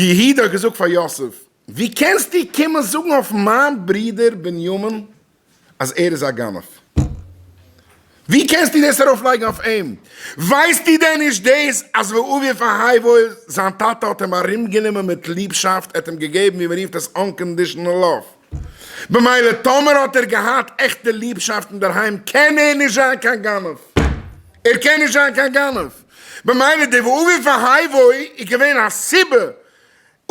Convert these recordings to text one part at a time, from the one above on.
יהודה האט געזאגט פאר יוסף, ווי קענסטו קומען זאגן אויף מיין ברודער בנימין אז ער איז א גנב? ווי קענסטו דאס ארויפלייגן אויף אים? ווייסטו דען נישט דאס אז ואובי פאהייבו זיין טאטע האט אים ארומגענומען מיט ליבשאפט, ער האט אים געגעבן ווי מ'רופט עס אנקאנדישאנעל לאוו, במילא טאמער האט ער געהאט עכטע ליבשאפט אינדערהיים קען ער נישט זיין קיין גנב, ער קען נישט זיין קיין גנב, במילא די ואווי והאי וואוי איז געווען א סיבה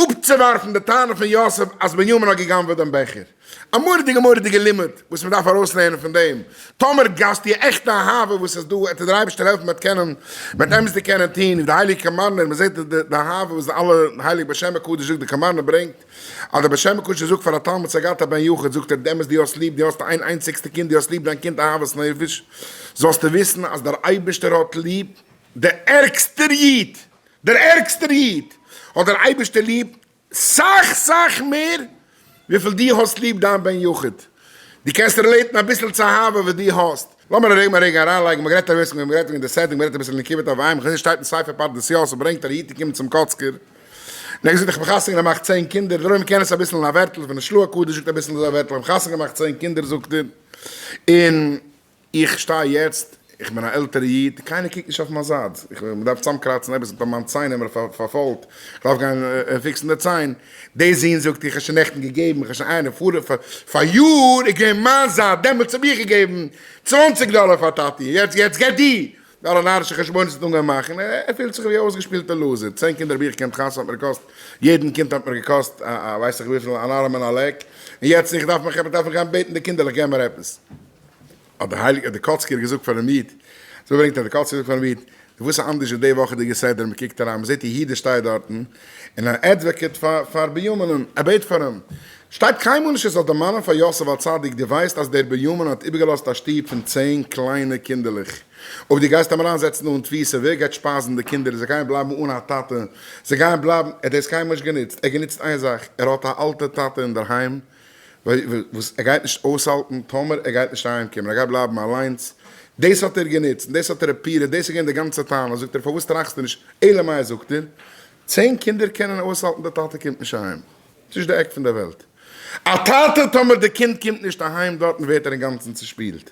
אפצוווארפן די טענה פון יוסף אז בנימין האט גע'גנב'עט דעם בעכער. א מורא'דיגע מורא'דיגע לימוד וואס מ'דארף ארויסלערנען פון דעם, טאמער גייסטו איר עכטע אהבה וואס איז דא, עט ער דיר אייבערשטער העלפן מ'עט קענען מ'עט אמת די קענען טון, ווי די הייליגע קאמארנער מ'זעט די אהבה וואס די אלע הייליג בשם הקדוש זאגט די קאמארנער ברענגט. אז דער בשם מקושר זאגט פאר א תלמיד סגת א בן יחיד זאגט ער די אמת די האסט ליב די האסט איין איינציגסטע קינד די האסט ליב דיין קינד אהבת נפש זאלסטו וויסן אז דער אייבערשטער האט ליב דער ערגסטער איד דער ערגסטער איד האט דער אייבערשטער ליב סאך סאך מער וויפיל די האסט ליב דיין בן יחיד די קענסט רילעיטן אביסל צו אהבה וואס די האסט לאמיר ארום א רגע אריינלייגן, מ'האט גערעדט אביסל, מיר האבן גערעדט וועגן די סעטינג, מ'רעדט אביסל אין נקבות אויף וויימער, כ'זעה ס'שטייט אין ספר פרדס יואל, ס'ברענגט אז א איד איז געקומען צום קאצקער, און ער האט געזאגט איך האב חתונה געמאכט צען קינדער, דערויף מ'קען עס אביסל אין א ווערטל, פון די שלו ה קודש זאגט אביסל אזוי א ווערטל, איך האב חתונה געמאכט צען קינדער זאגט ער, און איך שטיי יעצט, איך בין א עלטערע איד, קיינער קוקט נישט אויף מיין זייט, איך, מ'דארף צוזאמקראצן עפעס, איך האב מיין ציין פארפוילט, איך דארף גיין פיקסן די ציין, די זין זאגט איך האב שוין נעכטן געגעבן, איך האב שוין איינער פאר פאר יאר איז געווען מיין זייט דעמאלטס האב איך געגעבן צוואנציג דאלער פאר טאטי יעצט יעצט גייט די אלע נארישע חשבונות האט אנגעהויבן מאכן ער פילט זיך ווי א אויסגעשפילטע לוזער צען קינדער האב איך געקענט חתונה האט מיר געקאסט יעדן קינד האט מיר געקאסט א ווייסעך וויפיל אן ארעם און א לעק און יעצט איך דארף מיך עפעס דארף איך גיין בעטן די קינדער זאלן געבן מיר עפעס. האט דער הייליגער דקאצקער געזאגט פאר'ן איד, אזוי ברענגט ער, דער קאצקער זאגט פאר'ן איד, נו וואס איז אנדערש ווי די וואכעדיגע סדר, מען קוקט אריין, מען זעט א איד דער שטייט דארטן, און ער עדוועקעט פאר בינימינ'ן, ער בעט פאר אים, שטייט קיינמאל נישט ער זאל דערמאנען פאר יוסף הצדיק, דו ווייסט אז דער בינימין האט איבערגעלאזט א שטוב פון צען קליינע קינדערלעך, אויב דו גייסט אים אריין זעצן אן תפיסה, ווער גייט שפייזן די קינדער, זיי גייען בלייבן אן א טאטע, זיי גייען בלייבן, ער האט דאס קיינמאל נישט גענוצט, ער האט גענוצט איין זאך, ער האט א אלטע טאטע אינדערהיים, וואס ער גייט נישט אויסהאלטן טאמער ער גייט נישט אהיימקומען, ער גייט בלייבן אליינס, דאס האט ער גענוצט און דאס האט ער אפירעט, דאס איז געווען די גאנצע טענה, זאגט ער פארוואס טראכסטו נישט, אלא מאי זאגט ער, צען קינדער קענען אויסהאלטן די טאטע קומט נישט אהיים, ס'איז נישט די עק פון די וועלט, א טאטע טאמער די קינד קומט נישט אהיים דארטן ווערט ער אינגאנצן צושפילט,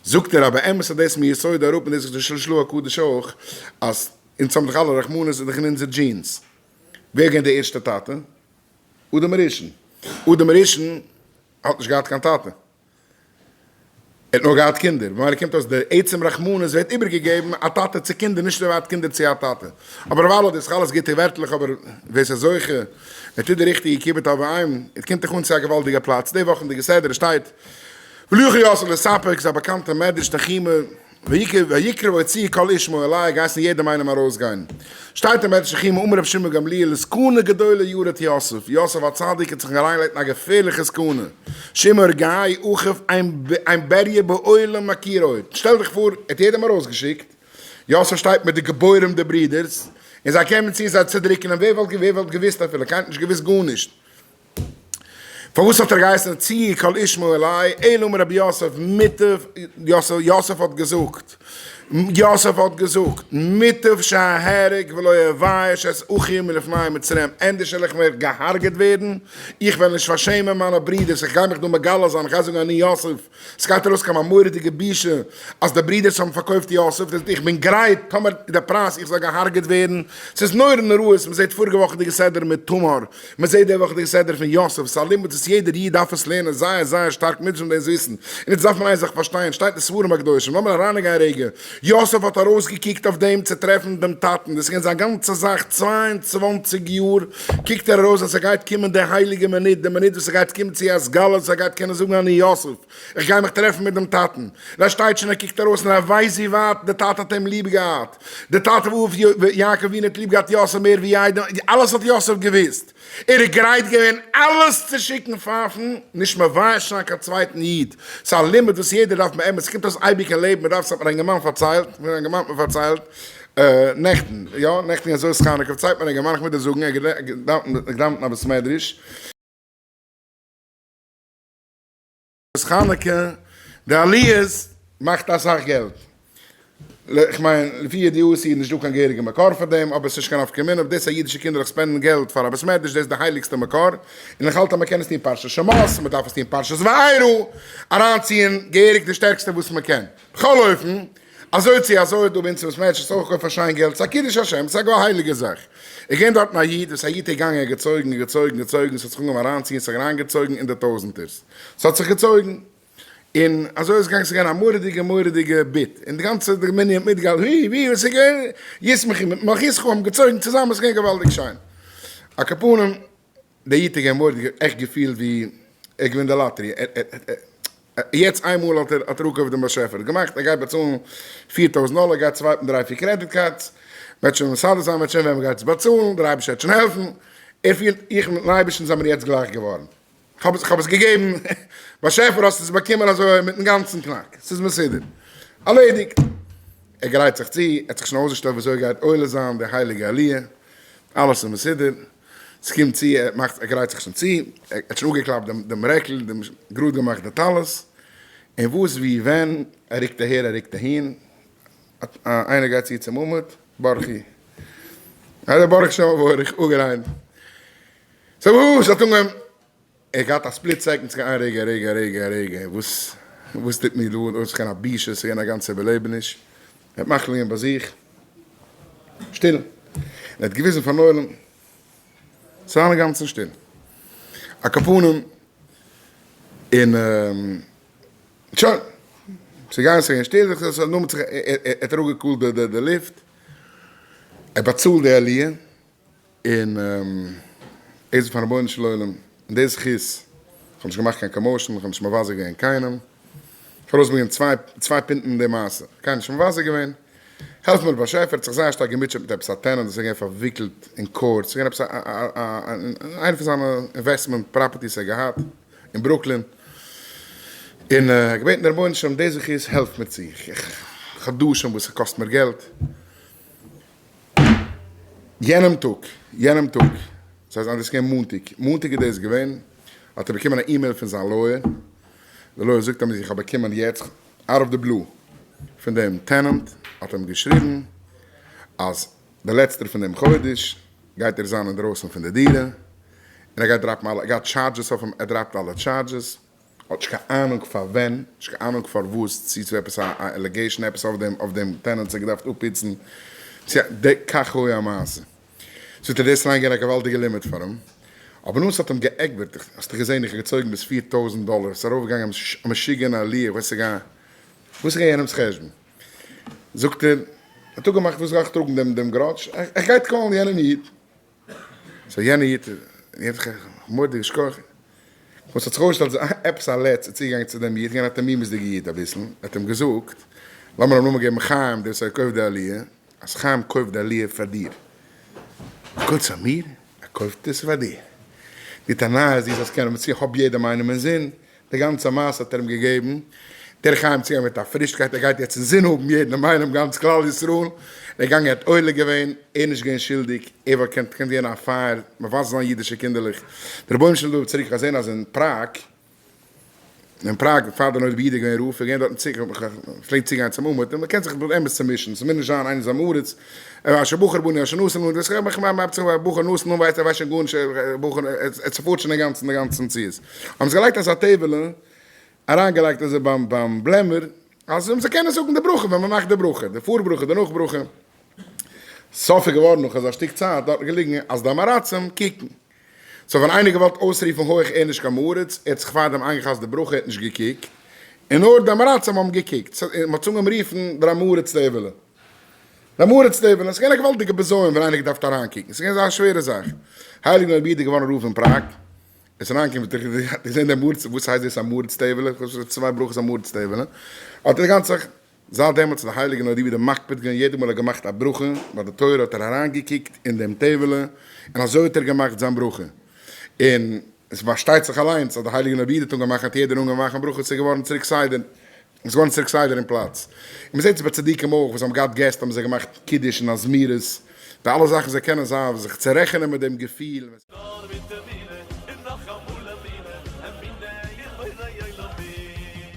זאגט ער, א באמת איז דאס מיסודו אראפ און דאס איז די של של הקדוש אויך, אז אונז האבן דאך אלע רחמנות איז דאך אין אונזער דזשינס, ווער איז געווען די ערשטע טאטע? אדם הראשון. אדם הראשון האט נישט געהאט קיין טאטע. ער האט נאר געהאט קינדער. ווען איינער קומט אויס די עצם רחמנות ווערט איבערגעגעבן א טאטע צו קינדער, נישט ער האט קינדער צו א טאטע. אבער דערווייל האט דאס אלעס גוטע ווערטלעך אבער ווער עס איז זוכה און טוט די ריכטיגע כיבוד אב ואם, עס קומט דאך אן צו א געוואלדיגע פלאץ. די וואכענדיגע סדר שטייט, וליוכי יאסעלע סאפעקס, א באקאנטע מדרש תנחומא. ויקרא ויצא קול ישמעו אלי האט געהייסן יעדעם איינעם ארויסגיין. שטייט אין בית שכימא אמר רבי שמעון גמליאל סכנה גדולה יראת יוסף, יוסף הצדיק האט זיך אריינגעלייגט אין א געפערליכע סכנה, שמעו רגעי אחיו אין בעריה בעולם מכיר עוד, שטעל דיך פאר ער האט יעדעם ארויסגעשיקט, יוסף שטייט מיט די גיבורים די ברידערס, און זיי קומען צו זיי צודריקן אים, ווער וואלט געוויסט אפילו, קיינער האט נישט געוויסט גארנישט, פארוואס האט ער געהייסן צי קל אשמור אלי אלא מר' יוסף מוטב יוסף יוסף האט געזאגט יוסף האט געזאגט מוטב שאהרג ולא אבייש את אחי מלפני מצרים ענדערש וועל איך מער געהארגעט ווערן איך וועל נישט פארשעמען מיינע ברידערס איך גיי מיך דא מגלה זיין איך גיי זאגן אני יוסף סגייט ארויס קיין א מורא'דיגע בושה אז די ברודערס האבן פארקויפט יוסף, דאס איך בין גרייט טאמער די פרייז איך זאל געהארגעט ווערן, סאיז נורא נוראות, מזעט פאריגע וואכעדיגע סדר מיט תמר, מזעט די וואכעדיגע סדר פון יוסף, סא לימוד וואס יעדער איד דארף עס לערנען זייער זייער שטארק מיטשען דאס וויסן, און יעצט דארף מען איין זאך פארשטיין, שטייט אין ספרים הקדושים, לאמיר אריינגיין רגע, יוסף האט ארויסגעקוקט אויף דעם צו טרעפן דעם טאטן, דאס איז געווען זיין גאנצע זאך צוויי און צוואַנציק יאר, קוקט ער ארויס אז ס'גייט קומען די הייליגע מינוט, די מינוט וואס ס'גייט קומען צו א סגולה אז ער גייט קענען זאגן אני יוסף, איך גיי מיך טרעפן מיט דעם טאטן, ר' שטייטשענער קוקט ארויס און ער ווייסט ווי ווייט די טאטע האט אים ליב געהאט, די טאטע וואו אויף יעקב אבינו האט ליב געהאט יוסף מער ווי יעדעם, אלעס האט יוסף געוואוסט. ער איז גרייט געווען אלעס צו שיקן פייפן, נישט מבייש זיין קיין צווייטן איד, ס'איז א לימוד וואס יעדער דארף באמת, ס'קומט אויס אייביג אין לעבן, מ'דארף, ס'האט מיר א אינגערמאן פארציילט, מיר האט א אינגערמאן מיר פארציילט נעכטן, יא נעכטן אין אזויס חנוכה פארציילט מיר א אינגערמאן, איך מוז דיר זאגן, ער האט געדאווענט אין א בית מדרש, נס חנוכה, די עליות מאכט אסאך געלט. איך מיין לפי ידיעתי איז נישט דא קיין געהעריגע מקור פאר דעם, אבער עס איז נישט קיין נפקא מינה אויב דאס אז אידישע קינדערלעך ספענדן געלט פאר א בית מדרש, דאס איז די הייליגסטע מקור, און איך האלט אז מען קען עס טון פרשת שמות, מען דארף עס טון פרשת וארא, אריינציען געהעריג די שטערקסטע וואס מען קען. בכל אופן. אזוי צי אזוי איז דא ביי אונז וואס מענטשן סך הכל פארשייען געלט, ס'איז א קידוש השם, ס'איז א גאר הייליגע זאך. איך געהן דארטן א איד, וואס א יוט איז געגאנגען און געצויגן און געצויגן געצויגן, ס'האט זיך אנגעהויבן אריינציען, ס'האט זיך אריינגעצויגן אין די טויזענטערס, ס'האט זיך געצויגן, און אזוי איז געגאנגען, ס'איז געווען א מורא'דיגע מורא'דיגע ביט, און די גאנצע מנין האט מיטגעהאלטן, ווי ווי וואס איז געווען, ישמחי מיט מח ישמחי האבן געצויגן צוזאמען, ס'איז געווען געוואלדיג שיין. א קאפאנעם. דער איד האט געמוירט עכט געפילט ווי ער האט געווינען די לאטערי יעצט איינמאל האט ער אנגערופן דעם באשעפער האט געמאכט ער גייט באצאלן פֿיר טויזנט דאלער גייט סווייפן דריי פיר קרעדיט קארדס וועט שוין מסדר זיין וועט שוין ווען מען גייט עס באצאלן דער אייבערשטער וועט שוין העלפן ער פילט איך מיטן אייבערשטן זעמיר יעצט גלייך געווארן כ'האב עס געגעבן באשעפער האסט עס באקומען אזוי מיטן גאנצן קנאק ס'איז מסודר ארלעדיגט ער גרייט זיך צו ער האט זיך שוין אויסגעשטעלט ווי אזוי גייט עולה זיין די הייליגע עליה אלעס איז מסודר. ס'קומט צו, ער מאכט, ער גרייט זיך שוין צו, ער האט שוין אפגעקלאפט דעם, דעם רעקל, דעם, גראד געמאכט די טלית, און וואס, ווי, ווען, ער רוקט אהער, ער רוקט אהין, איינער גייט צו צום עמוד, ברכי. אדער ברוך שם וברך, אגער איין. סאו וואס האט אנגעהויבן. ער האט געהאט א ספליט סעקאנד צו גיין רגע רגע רגע רגע וואס וואס טוט מיר דא אויס כ'בין א בושה עס איז געווען א גאנצע איבערלעבעניש ער האט מחליט געווען ביי זיך שטיל און ער האט געוויזן פארן עולם צו זיין אינגאנצן שטיל א כפנים און שוין עס איז געווען שוין שטיל עס האט נאר ער האט אראפגעקאלט די לופט ער באצאלט די עליה און עס איז פארן רבונו של עולם און די זכות, איך האב נישט געמאכט קיין קאמאושן, איך האב נישט מבזה געווען קיינעם, איך האב ארויסגעברענגט צוויי פונטן אין די מעשה, קיינעם נישט מבזה געווען, העלף מיר באשעפער, האט זיך זייער שטארק געמוטשעט מיט עפעס א טענענט וואס איז געווען פארוויקלט אין קאורט, ס'איז געווען עפעס איינע פון זיינע אינוועסטמענט פראפערטיס ער האט געהאט אין ברוקלין, און ער האט געבעטן די רבונו של עולם די זכות העלף מיר צו, איך האב חדשים וואס ס'קאסט מיר געלט, יענעם טאג, יענעם טאג, סאיז זיין דאס געווען מאנטאג, מאנטאג איז דאס געווען, האט ער באקומען א אימעיל פון זיין לויער, די לויער זאגט אים אז איך האב באקומען יעצט אוט אוו די בלו פון דעם טענענט האט אים געשריבן אז די לעצטער פון דעם חודש גייט ער זיין אינדרויסן פון די דירה, און ער גייט דראפן אלע, ער גייט טשארדזשעס אויף אים, ער דראפט אלע טשארדזשעס. האט נישט קיין אהנונג פאר ווען, נישט קיין אהנונג פארוואס, צו ס'איז עפעס א עלעגעישן עפעס אויף דעם טענענט ס'האט געדארפט אפפיצן, צו די כך הוי המעשה. ס'וועט אין דאס אריין גיין א געוואלדיגע לימיט פאר אים, אבער נו ס'האט אים געעגבערט, האסט דאך געזען איך האב געצויגן ביז פֿיר טויזנט דאלער, ס'איז ארויף געגאנגען א משוגענע עליה, איך ווייס נישט וואס איז געווען יענעמ'ס חשבון, זאגט ער, האט אפגעמאכט וואס גייך טראגן דעם גראדזש, איך גיי קאלן יענעם איד. סאו יענע איד געבט זיך א מורא'דיגע שכח, וואס האט זיך אויסגעשטעלט אז ס'איז עפעס א לץ צוגעגאנגען צו דעם איד, געווען א תמימות'דיגע איד אביסל, ער האט אים געזאגט, לאמיר אים נאמען געבן חיים, דער וואס ער קויפט די עליה, אז חיים קויפט די עליה פאר דיר, גוטס פאר מיר, ער קויפט עס פאר דיר, די טענה איז די זאלסט קענען באציען, כ'האב יעדעם איינעם אינזין, די גאנצע מעשה האט ער אים געגעבן דער חיים צו גיין מיט א פרישקייט, ער גייט יעצט אינזין האבן יעדן אינאיינעם גאנץ כלל ישראל, דער גאנג האט עולה געווען, ער איז נישט געווען שולדיג, ער וואלט געקענט געקענט ווערן א פייער מבזה זיין אידישע קינדערלעך, דער רבונו של עולם דארף צוריק אזען אז אין פראג, אין פראג פאר די נולד ביהודה איז געווען רב, איז געווען דארטן צו, פלעגט צוגיין צום אומעטום, מ'קען זיך באמת צומישן, ס'מוז נישט זיין איינער איז עם הארץ, ער ווייסט שוין בחור בנין שוין נאסן און דאס מאכט מיין מאפצעך ווייל בחור נאסן און ווייסט ער ווייסט שוין גארנישט ער בחור ער צופארט שוין אינגאנצן די גאנצע מציאות האבן זיי געלייגט אזא טעבעלע אריינגעלייגט אזוי ביים ביים בלעמער אז זיי קענען זאגן די ברכה ווען מען מאכט די ברכה די פאר ברכה די נאך ברכה סוף איז געווארן נאך אזא שטיק צייט דארטן געליגן אז די אמאראצים קוקן סאו ווען איינער האט געוואלט אויסרופן הויך ער נישט קיין אמאראץ ער האט זיך פארדעם איינגעכאסט די ברכה ער האט נישט געקוקט און נאר די אמאראצים האבן געקוקט סאו מען האט אנגעהויבן רופן דער אמאראץ טעבעלע. דעם הארץ לעבן, עס איז געווען א געוואלדיגע בזיון ווען איינער געדארפט אריינקוקן, עס איז געווען אזא שווערע זאך, הייליגן רבי איז געווארן רב אין פראג, עס איז אריינגעקומען ווען דער רבי האט געזען דעם הארץ, וואס הייסט דאס א מארץ טעוועלע, איך האב שוין צוויי ברכות א מארץ טעוועלע, האט ער די גאנצע זאך, זייט דעמאלטס האט דער הייליגן רבי דעם מקפיד געווען יעדע מאל ער האט געמאכט א ברכה ביי די תורה האט ער אריינגעקוקט אין דעם טעוועלע און אזוי האט ער געמאכט זיין ברכה, און עס פארשטייט זיך אליינס אז דער הייליגן רבי איז אנגעוואכן האט יעדער אנגעוואכן ברכות, עס איז געווארן צוריק סדר און ס'געווארן צירוק סדר און פלאץ. און מ'זעט עס ביי צדיקים אויך, וואס האבן געהאט געסט האבן זיי געמאכט קידוש און א זמירות, די אלע זאכן זיי קענען זיין זיך צו רעכענען מיט דעם געפיל. נאר מיט אמונה און נאך אמאל אמונה, אמונה אין בורא עולמים.